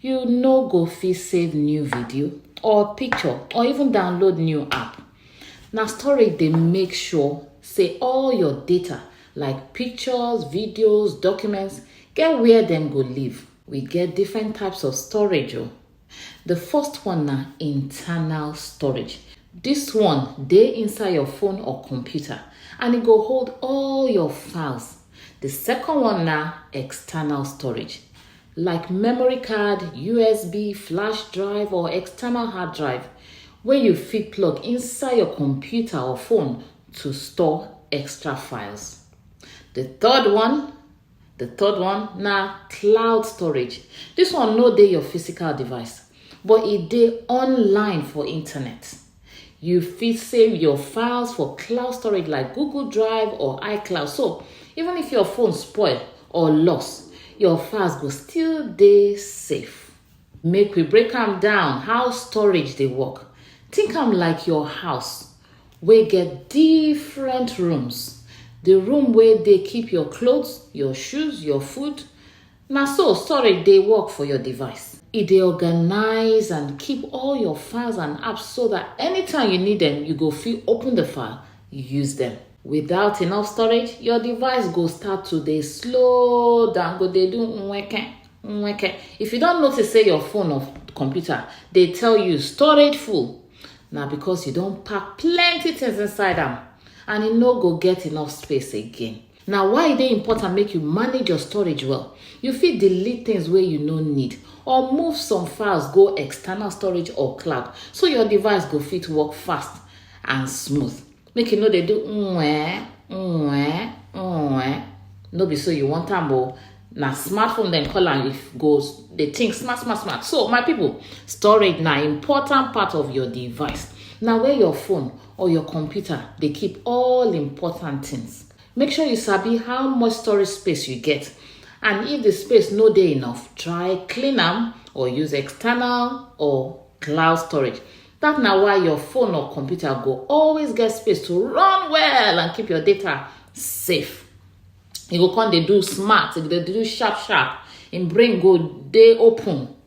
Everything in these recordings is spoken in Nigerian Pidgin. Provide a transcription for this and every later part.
You no go fit save new video or picture or even download new app. Na storage dey make sure say all your data like pictures, videos, documents get where dem go live. We get different types of storage o. Oh. The first one na internal storage. This one dey inside your phone or computer and e go hold all your files. The second one na external storage. like memory card, USB, flash drive or external hard drive wey you fit plug inside your computer or phone to store extra files. The third one, the third one na cloud storage. This one no dey your physical device but e dey online for internet. You fit save your files for cloud storage like Google Drive or iCloud. So even if your phone spoil or lost, your files go still dey safe. Make we break am down how storage dey work. Think am like your house wey get different rooms. The room wey dey keep your clothes, your shoes, your food, Na so storage dey work for your device. E dey organize and keep all your files and apps so that anytime you need them, you go fit open the file, use them. Without enough storage, your device go start to dey slow down, go dey do nweke, nweke. If you don notice say your phone or computer dey tell you storage full, na because you don pack plenty things inside am and e no go get enough space again. Na why e dey important make you manage your storage well. You fit delete things wey you no need or move some files go external storage or cloud so your device go fit work fast and smooth. Make you no dey do nweh, nweh, nweh. No be so you want am o. Na smartphone dem call am if go dey think smart, smart, smart. So my people, storage na important part of your device. Na where your phone or your computer dey keep all important things. Make sure you sabi how much storage space you get and if the space no dey enough, try clean am or use external or cloud storage. That na why your phone or computer go always get space to run well and keep your data safe. You go come dey do smart, you go dey do sharp sharp, im brain go dey open.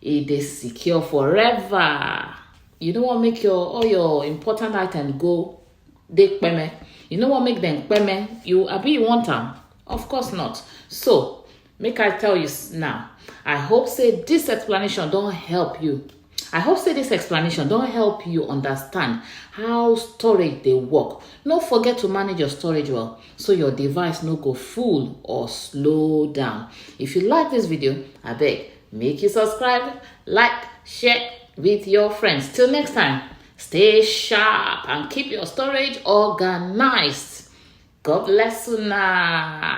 e dey secure forever you no wan make your all your important item go dey peme you no wan make dem peme you abi you want am of course not so make i tell you now i hope say this explanation don help you I hope say this explanation don help you understand how storage dey work. No forget to manage your storage well. so your device no go full or slow down. If you like this video, I beg, make you subscribe, like, share with your friends. Till next time, stay sharp and keep your storage organized. God bless you now.